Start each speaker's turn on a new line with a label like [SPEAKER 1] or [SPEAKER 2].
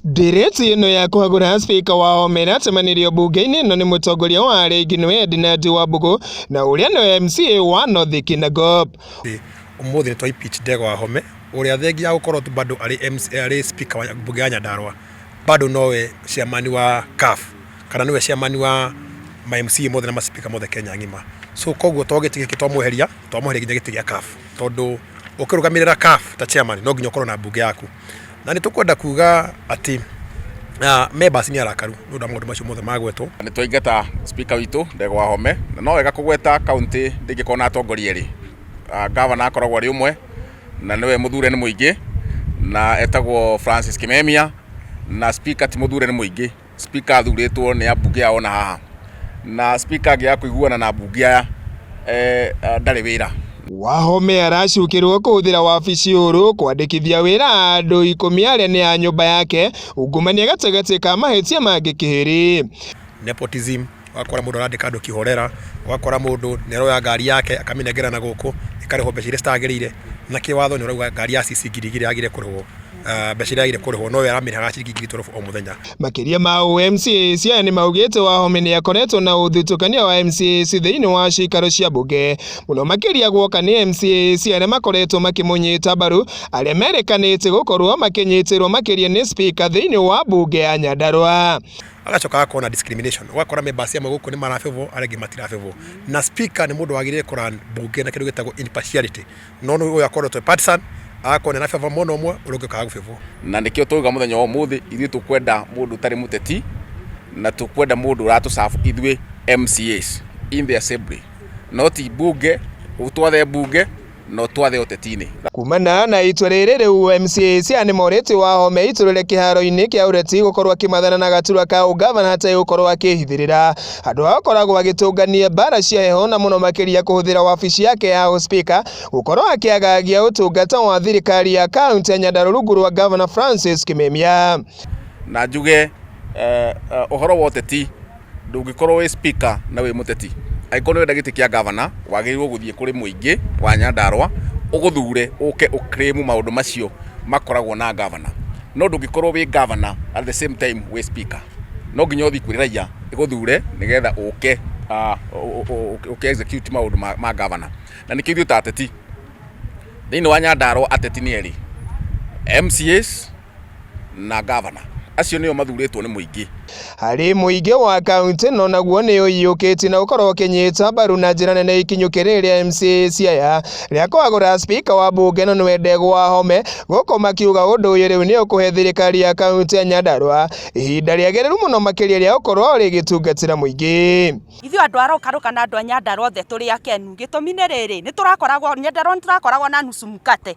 [SPEAKER 1] Ndireti ĩno ya kũhagũra spika wa omeratĩmanĩrio mbunge-inĩ ĩno nĩ mũtongoria wa Arĩngi nĩwe Edinard Wambugu na ũrĩa nĩ MCA wa North Kinangop. Ũmũthĩ
[SPEAKER 2] nĩ twa impeach Ndegwa Wahome ũrĩa thengia ya gũkorwo bado arĩ spika wa mbunge ya Nyandarua bado nowe chairman wa CAF. kana nĩwe chairman wa ma MCA mothe na ma speaker mothe Kenya ng'ima so koguo to gĩtĩ gĩkĩ twamweheria twamweheria nginya gĩtĩ gĩa CAF tondũ ũkĩrũgamĩrĩra CAF ta chairman no nginya ũkorwo na mbunge yaku na nĩ tũkwenda kuga atĩ ah, members nĩ arakaru nĩ ũndũ wa maũndũ macio mothe magwetwo nä twaingata
[SPEAKER 3] spika witå ndegwa home na no wega kå gweta kauntä ndängä korwo na atongoria erä ngavana akoragwo arä å mwe na nä we må thure nä må ingä na etagwo francis kimemia na spika ti må thure nä må ingä speaker athurĩtwo nĩ ambunge ao na haha na speaker angĩaga kũiguana na ambunge aya eh, ah, ndarĩ wĩra Wahome
[SPEAKER 1] aracukĩrwo kũhũthĩra wabici ũrũ kwandĩkithia wĩra andũ ikũmi arĩa nĩ a nyũmba yake ungumania gatagatĩ ka mahĩtia mangĩ kĩhĩrĩ. nepotism
[SPEAKER 2] ũgakora mũndũ arandĩka andũ kĩhorera ũgakora mũndũ nĩaroya ngari yake akamĩnengera na gũkũ ĩkarĩhwo mbeca iria citagĩrĩire na kĩwatho nĩ ũrauga ngari ya CC ngiri igĩrĩ yagĩrĩire kũrĩhwo ah, mbeca iria yagĩrĩire kũrĩhwo no we aramĩrĩhaga ciringi ngiri twelve o mũthenya Makĩria ma ũũ
[SPEAKER 1] MCA Siaya nĩ maugĩte Wahome nĩ akoretwo na ũthutũkania wa MCAs thĩinĩ wa ciikaro cia mbunge mũno makĩria guoka nĩ MCAs arĩa makoretwo makĩmũnyita mbaru arĩa merĩkanĩte gũkorwo makĩnyitĩrwo makĩria nĩ spika thĩinĩ wa mbunge ya Nyandarua. agacoka akona
[SPEAKER 2] discrimination ũgakora members amwe gũkũ nĩ marabebwo arĩa angĩ matirabebwo na speaker nĩ mũndũ wagĩrĩire kũra mbunge na kĩndũ gĩtagwo impartiality no nĩ ũyũ akorwo twĩ partisan akona na beba mwena ũmwe ũrĩa ũngĩ ũkaga gũbebwo na nĩkĩo twauga
[SPEAKER 3] mũthenya wa ũmũthĩ ithuĩ tũkwenda mũndũ ũtarĩ mũteti na tũkwenda mũndũ ũratũcabu ithuĩ mcas in the assembly no ti mbunge ũtwathe mbunge no twathe ũteti-inĩ. Kumana na itua
[SPEAKER 1] rĩrĩ rĩu MCA cia nĩ morĩtio Wahome aitũrũre kĩharo-inĩ kĩa ũreti gũkorwo akĩmathana na gaturwa ka ũngavana ategũkorwo akĩhithĩrĩra andũ ao akoragwo agĩtũngania mbara cia heho na mũno makĩria kũhũthĩra wabici yake ya ũspika gũkorwo akĩagagia ũtungata wa thirikari ya kaunti ya Nyandarua rungu rwa ngavana Francis Kimemia. Na njuge
[SPEAKER 3] ũhoro wa ũteti ndũngĩkorwo wĩ speaker na wĩ mũteti. Angĩkorwo nĩ ũrenda gĩtĩ kĩa governor, wagĩrĩirwo gũthiĩ kũrĩ mũingĩ wa Nyandarũa, ũgũthure ũke ũ claim maũndũ macio makoragwo na governor. No ndũngĩkorwo wĩ governor at the same time wĩ speaker. No nginya ũthiĩ kwĩ raiya ĩgũthure nĩgetha ũke ũ execute maũndũ ma governor. Na nĩkĩo ithuĩ ta ateti, thĩinĩ wa Nyandarũa ateti nĩ erĩ, MCAs... na ngavana acio nĩo mathurĩtwo nĩ mũingĩ harĩ mũingĩ
[SPEAKER 1] wa kaunti no naguo nĩ ũiyũkĩtie na ũkorwo ũkĩnyita mbaru na njĩra nene ikinyũkĩ rĩrĩ rĩa MCA Siaya rĩa kũagũra spika wa mbunge no nĩwe Ndegwa Home gũkũ makiuga ũndũ ũyũ rĩu nĩ ũkũhe thirikari ya kaunti ya Nyandarua ihinda rĩagĩrĩru mũno makĩria rĩa gũkorwo rĩgĩtungatĩra mũingĩ ithuĩ andũ
[SPEAKER 4] arokarũka na andũ a Nyandarua othe tũrĩ akenu gĩtũmi nĩ rĩrĩ nĩ tũrakoragwo Nyandarua nĩ tũrakoragwo na nusu mkate